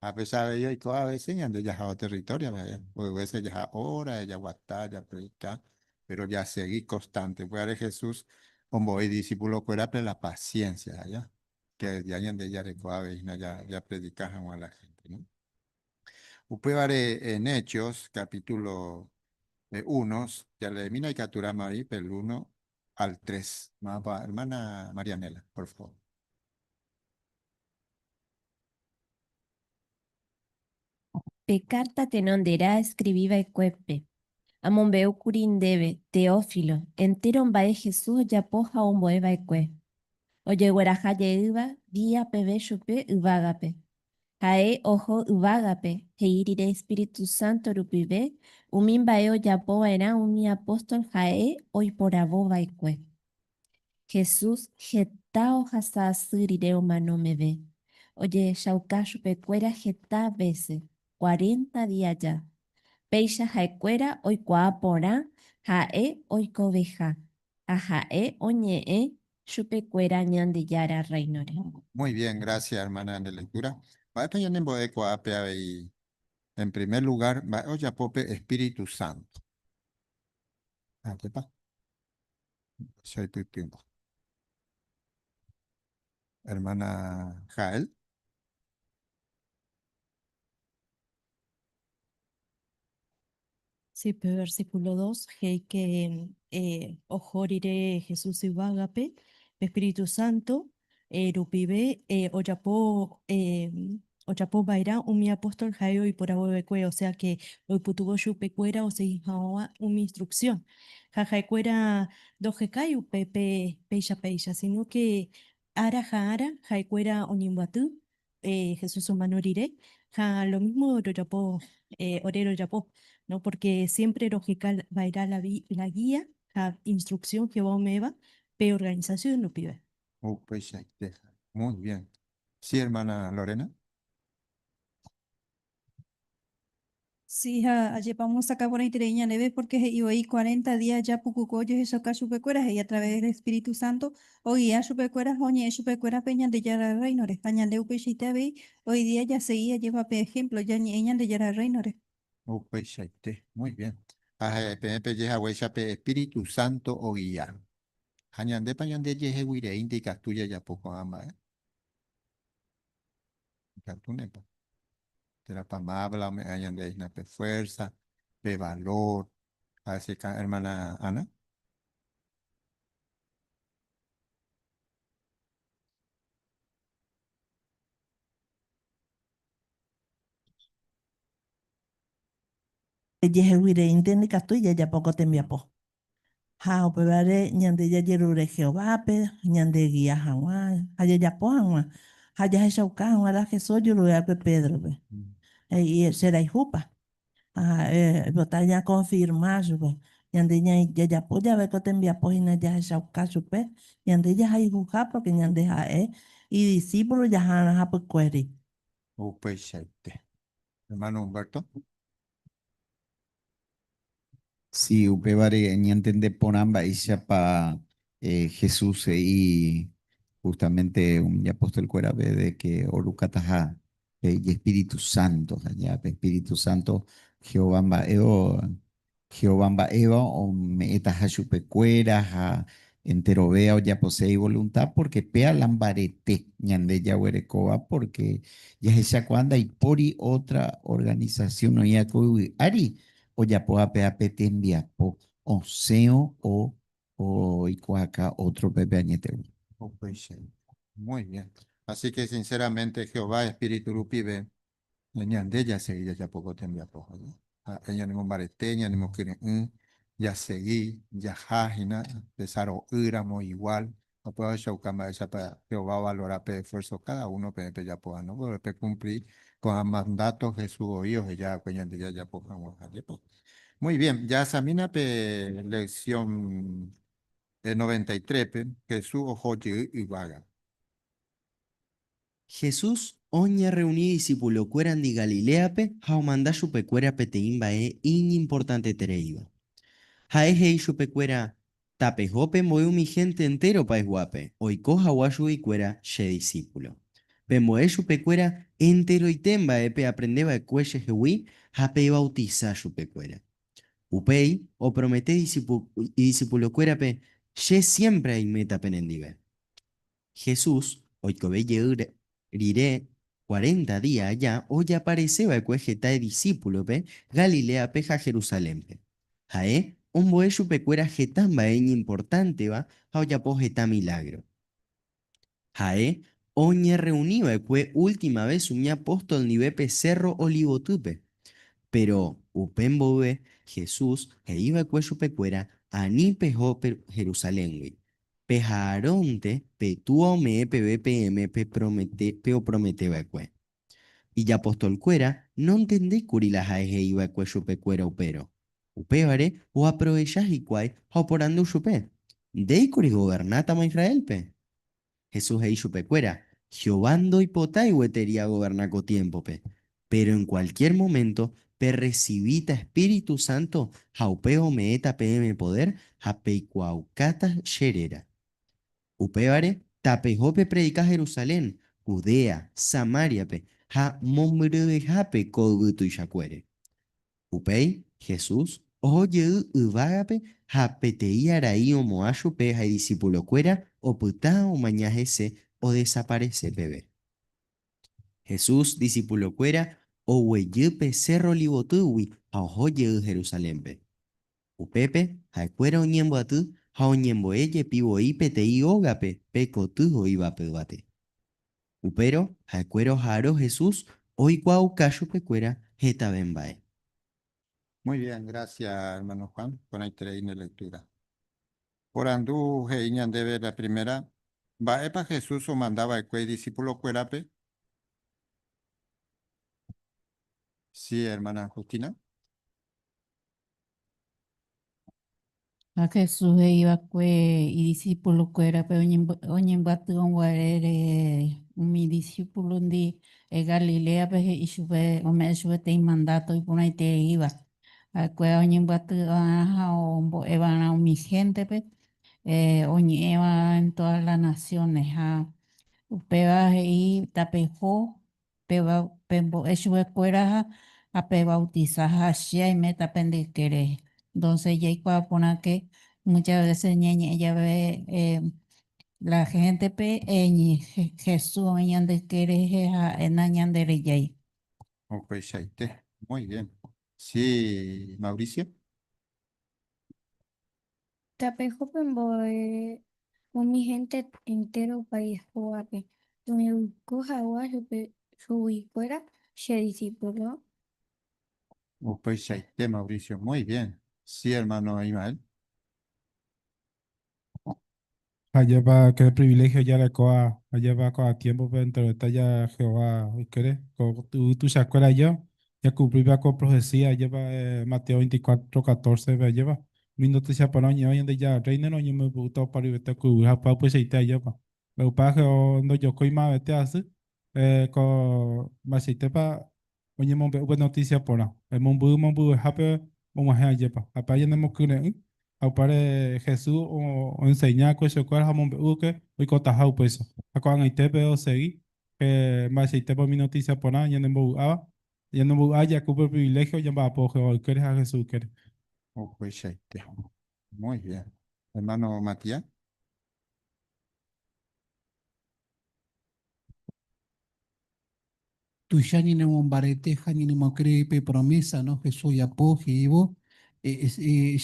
I: Ha péicha avei oiko avese ñande jahávo territorio-pe, mboy vese jaha hora, jaguata, japredika, péro jasegi konstante. Upévare Jesús ombo'e idisipulokuérape la pasiénsia, aja, kedia ñande jareko avei hína japredika hag̃ua la hénte. Upévare en Hechos capítulo uno, jaleemína ikaturãma avei pe lúno al tres. Mávapa hermana Marianela, por favor.
P: Pe kárta tenonderã eskrivi va'ekuépe, amombe'u kuri ndéve, Teófilo, entéro mba'e Jesús ojapo ha ombo'e va'ekue, ojegueraha jeýva día peve chupe yvágape, Ha'e oho yvágape, he'i rire Espíritu Santo rupive umi mba'e ojapo va'erã umi apóstol ha'e oiporavo va'ekue. Jesús heta ohasa asy rire omano meve, ojehechauka chupe kuéra heta vése, cuarenta día aja. Péicha ha'e kuéra oikuaa porã ha'e oikoveha, ha ha'e oñe'ẽ chupe kuéra Ñandejára Rréinore. Muy bien, gracias
I: hermana ñande lectura. Mba'épa ñanembo'e ko'ápe avei? En primer lugar, mba'e ojapo pe Espíritu Santo? Akepa. Che aipytýnte. Hermana Jael.
Q: Sí, pe versíkulo dos he'íke oho rire Jesús yvágape pe espíritu sánto rupive ojapo ojapo va'erã umi apóstol ha'e oiporavo va'ekue, osea ke oipytyvõ chupekuéra osegi hag̃ua umi instruksión. Ha ha'ekuéra ndojekái upépe péicha péicha, síno ke ára ha ára ha'ekuéra oñembyaty Jesús omano rire ha lo mísmo rojapo ore rojapo, pórke siémpre roheka va'erã la gía ha instruksión Jehová ome'ẽva pe organisasión rupive. Upeichaite.
I: Muy bien. Sí, ermána Lorena.
D: Sí, ha ajépa omosakã porãiterei ñandéve, pórke he'i voi, Cuarenta día japukuku ojehechakuaa chupekuéra, he'i a través del Espíritu Santo, ogia chupekuéra ha oñe'ẽ chupekuérape Ñandejára Rréinore. Ha ñande upeichaite avei, hoy día jasegi ajépa pe ehémplo, jañe'ẽ Ñandejára Rréinore. Upeichaite.
I: Muy bien. Ha ha'e peẽ peje haguéicha pe Espíritu Santo ogia. Ha ñandépa ñandejeheguireínte ikatu jajapo ko'ã mba'e? Ikatúnepa. Térãpa Mávla ome'ẽ ñandéve hína pe fuérsa, pe valór, ha chekã ermána Ana?
R: Ejeheguireínte ndikatúi jajapo ko tembiapo. Ha upévare ñande jajerure Jehovápe ñandegia hag̃ua ha jajapo hag̃ua ha jahechauka hag̃ua la Jesús ojuruve'ákue Pédrope, he'i, Cheraihúpa? Ha ha'e oipota ñakonfirma chupe, Ñande jajapo jave ko tembiapo hína jahechauka chupe, ñande jahayhuha pórke ñande ha'e idisípulo jahána hapykuéri. Upeichaite.
I: Ermáno Humberto.
H: Si, upévare ñantende porã mba'éichapa Jesús he'i justamente umi apóstol kuérave de que orukataha pe ijespíritu sánto. Ha ña pe espíritu sánto Jehová mba'évo, Jehová mba'éva ome'ẽtaha chupe kuéra ha enterove ojapose ivolunta, pórke péa la mbarete ñande jaguerekóva, pórke jahechakuaa ndaipóri ótra organisasiún oĩva ko yvy ári ojapóva péva pe tembiapo osẽvo o oikuaaka ótrope pe añetegua. Upéicharamo.
I: Muy bien. Asíke sinséramente Jehová espíritu rupive Ñande jasegi jajapo ko tembiapo hag̃ua. Ha'e ñanemombarete, ñanemokyre'ỹ, jasegi, jaha hína tesaro'ỹramo iguál. Upéva ohechauka mba'éichapa Jehová ovalora pe esfuérso káda uno peẽ pejapo ha ndogueroviáta pekumpli ko'ã mandáto Jesús voi oheja va'ekue ñande jajapo hag̃ua. Ajépa. Muy bien, jahasamiéna pe leksión noventa y trépe, Jesús oho jey yvágape.
J: Jesús oñerreuni idisipulokuérandi Galiléape ha omanda chupekuéra peteĩ mba'e iñimportantetereíva. Ha'e he'i chupekuéra, Tapeho pe mboy umi hénte entéro payguápe oiko hagua chuguikuéra che disípulo. Pembo'e chupekuéra enteroite mba'e peaprende va'ekue chehegui ha pevautisa chupekuéra. Upéi opromete idisipulokuérape, Che siémpre aiméta penendive. Jesús oikove jey rire cuarenta día aja ojaparese va'ekue heta idisípulope Galiléape ha Jerusalénpe. Ha'e ombo'e chupekuéra heta mba'e iñimportánteva ha ojapo heta milágro. Ha'e oñerreuni va'ekue última ves umi apóstol ndive pe Sérro Olivotýpe. Péro upe mboyve Jesús he'i va'ekue chupekuéra, Ani peho Jerusaléngui, Pe Haarónte pe túa ome'ẽ peve peẽme pepromete peopromete va'ekue. Ijapostol kuéra nontende kuri la ha'e he'i va'ekue chupe kuéra upérõ. Upévare oaprovecha hikuái ha oporandu chupe, Ndéi kuri governátama Israélpe? Jesús he'i chupe kuéra, Jehová ndoipotái gueteri agoverna ko tiémpope. Péro en kualkiér moménto perresivíta espíritu sánto ha upéva ome'ẽta peẽme podér ha peikuaaukáta che réra. Upévare tapeho pepredika Jerusalén, Judea, Samáriape ha mombyryvehápe ko yvy tuichakuére. Upéi Jesús oho jey yvágape ha peteĩ arai omo'ã chupe ha idisipulokuéra opyta omaña hese odesaparese peve. Jesús disípulokuéra oguejy pe Sérro Olivotýgui ha oho jey Jerusalénpe. Upépe ha'ekuéra oñembyaty ha oñembo'e jepi voi peteĩ ógape pe koty ho'ívape yvate. Upérõ ha'ekuéra oha'arõ Jesús oikuaauka chupekuéra hetave mba'e.
I: Muy bien, gracias hermano Juan, porãiterei ne lectura. Porandu he'i ñandéve la primera, Mba'épa Jesús omanda va'ekue idisipulokuérape? Sí, hermana Justina.
N: Ha Jesús he'i va'ekue idisipulokuérape oñembyaty oguare rehe umi disipulondi Galiléape he'i chupe, ome'ẽ chupe peteĩ mandato iporãitereiva. Ha'ekuéra oñembyaty va'erã ha ombo'e va'erã umi héntepe oñe'ẽ va'erã en tódas las naciones. Ha upéva he'i, Tapeho, pembo'e chupekuéra ha pevautisa, ha che aiméta pende yke rehe. Entonces jaikuaa porãke muchas veces ñañe'ẽ jave la géntepe Jesús oĩ ñande yke rehe ha ha'éna ñanderejái. Upeichaite.
I: Muy bien. Sí, Mauricio.
B: Tapejupe mboe umi hénte entéro país hógape oñeguiko hagua chupe chuguikuéra che disípulo.
I: Upeichaite, Mauricio. Muy bien. Sí, hermano Ismael.
G: Ajépa qué privilegio jarekóva ajépa ko'ã tiémpope entereta ja Jehová ykére ko yvy tuichakuéra ajéva jakuplípa ko profesía ajépa Mateo veinticuatro catórcepe ajépa Umi notísia porã oñe'ẽ Ñandejára Rréinore oñemombe'úta opa ruviete ku yvy ha py'apyeteite ajépa Mbegupa ndojokói mavete asy ko mba'eichaitépa oñemombe'u pe notísia porã, emombyy mombyvehápe og̃uahẽ ajépa, ha pe añenemokyre'ỹ, ha upévare Jesús oenseña ko chekuéra ha omombe'úke oikotaha upéicha, ha ko'ag̃aite peve osegi pe mba'eichaitépa umi notísia porã ñanembovy'áva, ñanembovy'a jaku pe priviléhio ñamba'apo Jehová ykére ha Jesús ykére. Upeichaite.
I: Muy bien. Hermano Matías.
M: Tuicha ñanemombarete ha ñanemokree pe promésa Jesús ojapo he'ívo,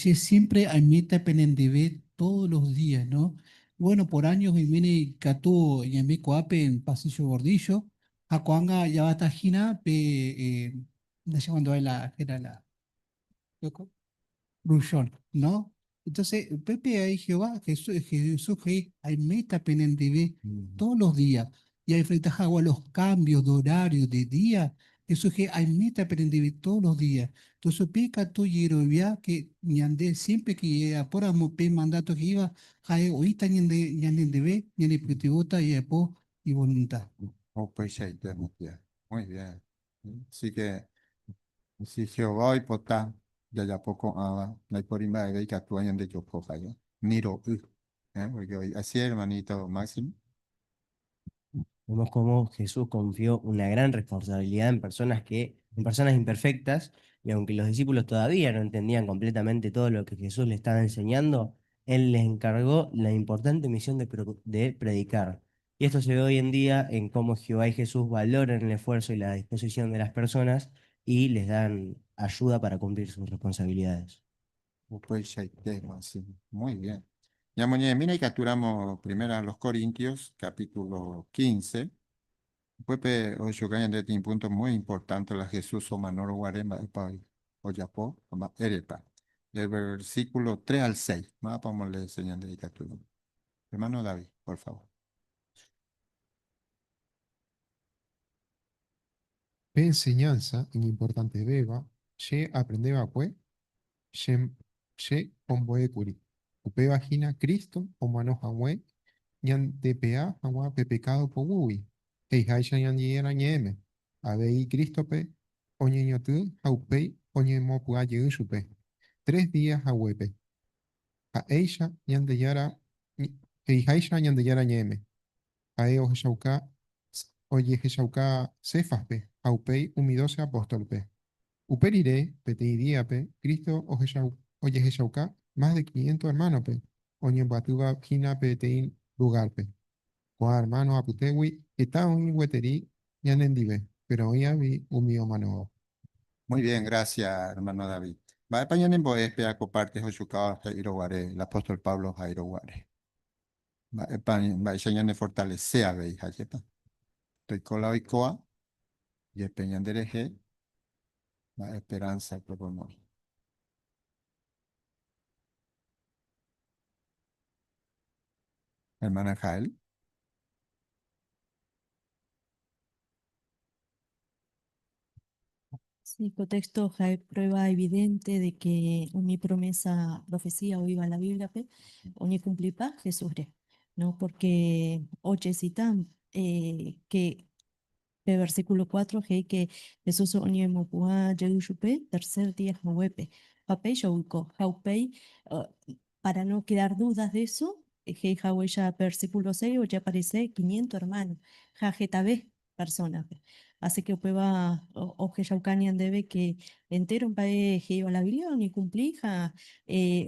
M: Che siémpre aimíta penendive tódo los días. Gueno, por áño oimérõ ikatu ñaime ko'ápe pasíllo gordíllo ha ko'ág̃a javata hína pe ndachemandu'ái la héra la Loco. Rushon, ¿no? Entonces, Pepe ahí Jehová, Jesús, Jesús ahí, hay meta penendive todos los días. Y hay frente a los cambios de horario, de día. Jesús que hay meta penendive todos los días. Entonces, pica tu yerovia que ñande siempre que llega por amor, pe mandato que iba, jae oita ñande, ñande debe, ñande pitivota y apo y voluntad.
I: Muy bien. Así que si Jehová oipota jajapo ko'ãva, ndaipóri mba'eve ikatu añandejoko jave, ni ro'y. Pórke oĩ. Así hermanito Máximo?
J: Vemos cómo Jesús confió una gran responsabilidad en personas que, en personas imperfectas, y aunque los discípulos todavía no entendían completamente todo lo que Jesús les estaba enseñando, Él les encargó la importante misión de predicar. Y esto se ve hoy en día en cómo Jehová y Jesús valoran el esfuerzo y la disposición de las personas y les dan ayuda para cumplir sus responsabilidades.
I: Upeichaite guasu. Muy bien. Ñamoñe'ẽmína ikatúramo Primera a los Corintios, capítulo 15. Upépe oho chupe ñande peteĩ púnto muy importante la Jesús omanórõ guare mba'épa ojapo ha mba'érepa. Del versículo tres al seis. Mávapa omolee che ñande ikatúramo. Hermano
E: David, por favor. Pe enseñanza iñimportantevéva che aprende va'ekue che, che ombo'ékuri, upéva hína Cristo omano hague ñandepea hag̃ua pe pecado poguýgui, he'iháicha Ñandejára Ñe'ẽme, avei Cristo-pe oñeñotỹ ha upéi oñemopy'a jey chupe, tres día haguépe. Ha'éicha Ñandejára, he'iháicha Ñandejára ñe'ẽme, Ha'e ohechauka, ojehechauka Cefaspe ha upéi umi doce apóstolpe. Upe rire, peteĩ díape, Cristo ohechau, ojehechauka más de quiniento ermánope oñembyaty va hína peteĩ lugárpe. Ko'ã hermano apytégui heta oĩ gueteri ñanendive, péro oĩ avei umi omanovao. Muy bien,
I: gracias, hermano David. Mba'épa ñanembo'e pe akó párte hochukáva he'írõ guare el apóstol Pablo oha'írõ guare? Mba'épa, mba'éicha ñanefortalese avei? Ha jepéma toiko la oikóva jepe ñanderehe, mba'e esperánsa pegua omoĩ? Hermana Jael.
Q: Sí, contexto hay prueba evidente de que mi promesa, profecía o iba a la Biblia, pe, o ni cumplipa Jesús, ¿no? Porque oye citan eh, que Pe versículo cuatro he'íke Jesús oñemopu'ã jey chupe tercer día haguépe. Ha péicha oiko. Ha upéi, para no quedar dudas de eso, he'i haguéicha pe versículo seis ojeaparese quiniento hermano, ha hetave persona-pe. Así que upéva ohechauka ñandéve que entéro mba'e he'íva la Biblia oñekumpli ha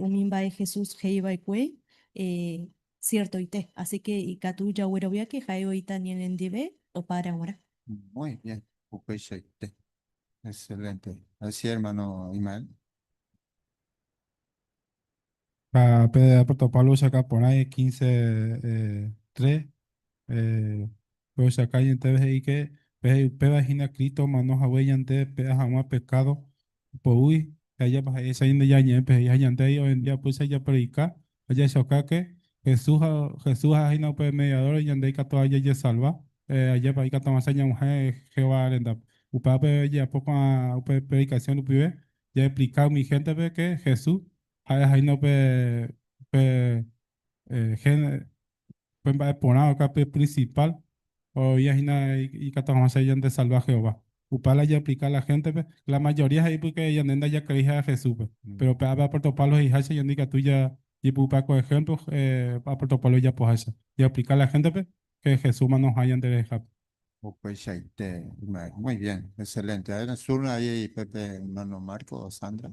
Q: umi mba'e Jesús he'iva'ekue Siertoite, asy ke ikatu jaguerovia ke ha'e oĩta ñanendive opára g̃uarã. Muy bien,
I: upeichaite. Excelente. Así hermano Ismael.
G: Ha pe apóstol Pablo ohecha porã y quince, tres, ohecha ñandéve he'i ke peje upéva hína Cristo omano hague ñande pe'a hag̃ua pecado poguýi, ha ijapa ha'éicha ñande ñañe'ẽ pe he'i ha ñande he'i hoy en día upéicha japredika ajahechokáke Jesús ha Jesús aha'éhína upe mediador ñande ikatu ha jajesalva, ajépa ikatu'asã ñag̃uahẽ Jehová rendápe. Upévape jajapo ko'ã upe predikasión rupive jaexplika umi héntepe ke Jesús ha'e aha'éhína upe upe Pe mba'e porã oka pe principal oĩva hína ikatu hag̃ua che ñandesalva Jehová. Upe la japlika la héntepe, la mayoría he'i pórke ñande ndajakrei ha'e Jesúspe. Péro upe ápe apóstol Pablo he'iháicha ñande ikatu jajepy'upa ko ehémplo apóstol Pablo ojapoháicha, japlika la héntepe che Jesúsma noha'ã ñanderehehápe. Upeichaite
I: ymave. Muy bien, excelente. Ha'éne sur avei pe hermano Marco o Sandra.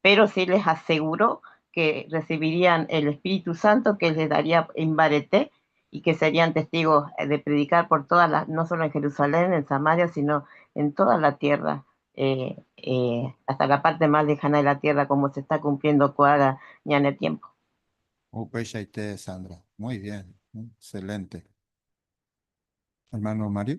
S: Péro si lehaseguro ke resivirían el espíritu sánto ke ledaría imbarete, i ke serían testígo de predikar por tóda la, no sólo en Jerusalén, en Samaria, sino en tóda la tiérra, ásta la párte más lejána de la tiérra, kómo se está kumpliendo ko ára ñane tiémpo. Upeichaite,
I: Sandra. Muy bien. Excelente. Hermano Mario.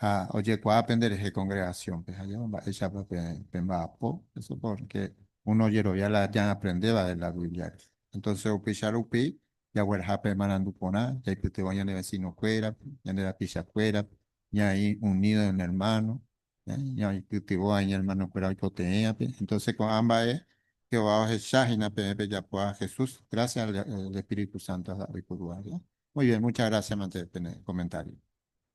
I: ha ojekuaa pende rehe kongregasiónpe ha jave mba'éichapa pemba'apo, eso pórke uno ojerovia la ñaaprendéva de la Bíbliare. Entónse upéicha rupi jagueraha pe marandu porã, jaipytyvõ ñane vesinokuérape, ñane rapichakuérape, ñaĩ unído en ermáno, ñaipytyvõ ha iñermanokuéra oipoteĩvape. Entónse ko'ã mba'e Jehová ohecha hína peẽ pejapoha Jesús grásia al espíritu sánto ha oiporuha. Muy bien, mucha grásia mante pene komentário.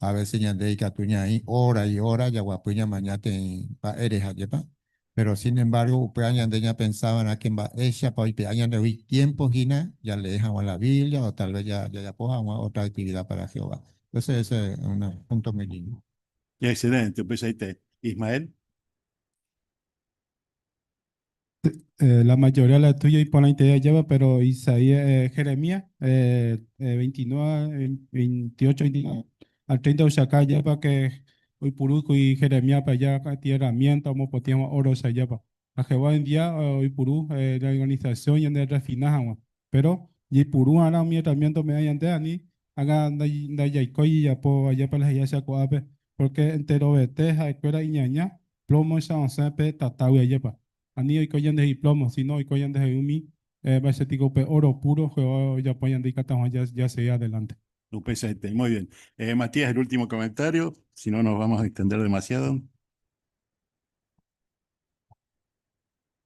I: A vése ñande ikatu ñaĩ óra ióra jaguapy ñamaña tei mba'ére hajépa. Péro sin embárgo upéva ñande ñapensa va'erã ke mba'éichapa oipe'a ñandegui tiémpo hína jalee hag̃ua la Biblia o talves jajapo hag̃ua ótra aktivida pára Jehová. Ese es un punto muy lindo. Excelente,
C: upeichaite. Ismael.
G: La mayoría la tuya iporãitei ajépa, pero Isaías, eh, Jeremías, eh, 29, 28, 29 al 30 ohecha káa ajépa que oipurúkuri Jeremíaspe aja ka'atĩ herramienta omopotĩ hag̃ua óro ohecha ajépa. Ha Jehová hoy en día oipuru la organización ñande refina hag̃ua. Péro jaipuru'arã umi herramienta ome'ẽ ñandéva, ani ág̃a ndajaikói jajapo ajépa la he'iha che ko'ápe, pórke enterovete ha'ekuéra iñaña plómoicha osẽ pe tatágui ajépa. Ani oiko ñande iplómo, síno oiko ñandehegui umi mba'éicha piko upe óro púro Jehová ojapo ñande ikatu hag̃ua jasegi adelánte.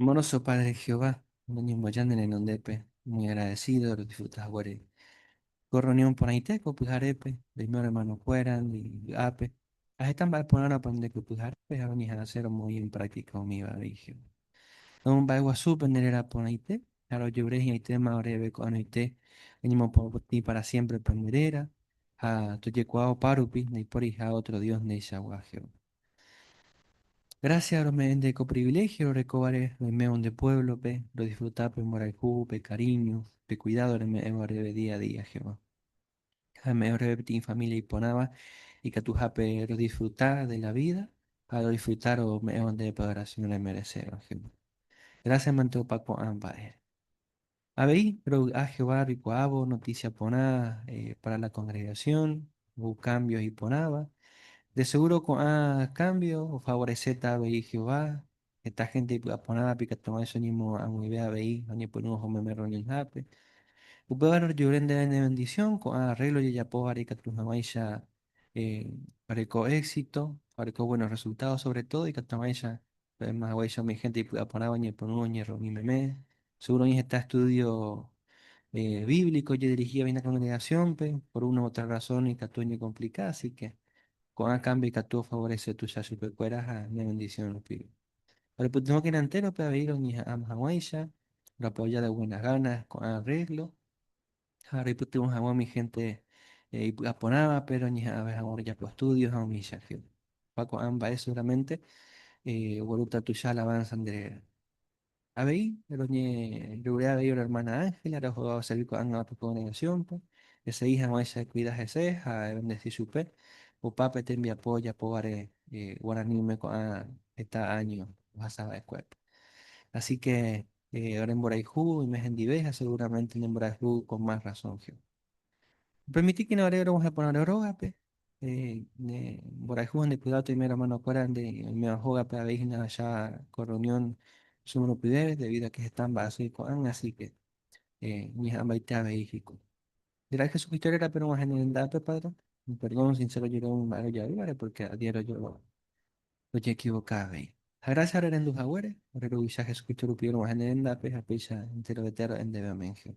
O: Amoroso Padre Jehová, noñemboja ne renondépe, muy agradecido rodisfruta haguére ko reunión porãite ko pyharépe, roime oremanokuéra vy'ápe ha heta mba'e porãrõ aprende ko pyharépe ha roñeha'ãse romoĩ en práctica umíva avei Jehová. Romomba'eguasúpe ne réra porãite ha rojeure hi'ãitéma oréve ko'ág̃aite roñemopotĩ para siémprepe ne réra ha tojekuaa opárupi ndaipóriha ótro dios ndeichagua Jehová. Grásia rome'ẽnte ko priviléhio rorekóvare roimévo nde puévlope, rodisfruta pe mborayhu, pe karíño, pe kuidádo reme'ẽvo reve día a día Jehová. Ha reme'ẽvo reve peteĩ família iporãva ikatuhápe rodisfruta de la vída ha rodisfruta rome'ẽvo nde preparación remereséva Jehová. Grásiamante opa ko'ã mba'ére. Avei rovy'a Jehová reikuaávo notísia porã pára la kongregasión, ou kámbio iporãva. De segúro ko'ã kámbio ofavoreséta avei Jehová. Heta hénte ipy'a porãvape ikatu vaícha oñemoag̃uive avei oñepyrũ oho meme rreunionhápe. Upévare rojyvere ndéve ne vendisión, ko'ã arréglo jajapóvare ikatu hag̃uáicha reko éxito ha oreko bvuéno rresultádo. Sóvre tódo ikatu hag̃uáicha Maymávaguaicha umi hénte ipy'aporãva oñepyrũ oñerrumi meme. Segúro oĩ heta estúdio bíblico ojedirihíva hína kongregasiónpe. Por una u otra rasón ikatu oñekomplika, asíke ko'ã kámbio ikatu ofavorese tuicha chupekuéra ha ne vendisión rupive. Orepytyvõkena entérope avei roñeha'ãma hag̃uáicha, roapoja de buenas ganas ko'ã rréglo. ha reipytyvõ hag̃ua umi hénte ipy'aporãvape, roñeha'ãve hag̃ua rojapo estúdio ha umíchake. Ha ko'ã mba'e seguramente oguerúta tuicha alávánsa nderéve. Avei, roñeryvere avei ore ermána Ángela, rehoga oservi ko'ág̃ava pe kongregasiónpe. Esegi hag̃uáicha ekuida hese ha evendesi chupe opa pe tembiapo ojapóvare guaraníme ko'ã heta áño ohasava'ekuépe. Asíke Ore mborayhu oime hendive ha seguramente ne mborayhu con más razón que. Permitíkena ore rog̃uahẽ porã ore rógape, ne mborayhu ha ne cuidado toime hermano kuéra nde oiméva hógape avei hína ahecha ko reunión che morupyvépe debido a que heta mba'asy ko'ág̃a así que ñeha'ãmbaite avei hikuái. Ndera'y Jesucristo rérape rog̃uahẽ ne rendápe Padre, perdón sincero jereúne mba'e rojoavívare porque adiéro ojekivoka avei. Ha grásia rerendu haguére, ore Ruvicha Jesucristo rupi orog̃uahẽ ne rendápe ha péicha enterovete aro'e ndéve. Aménge.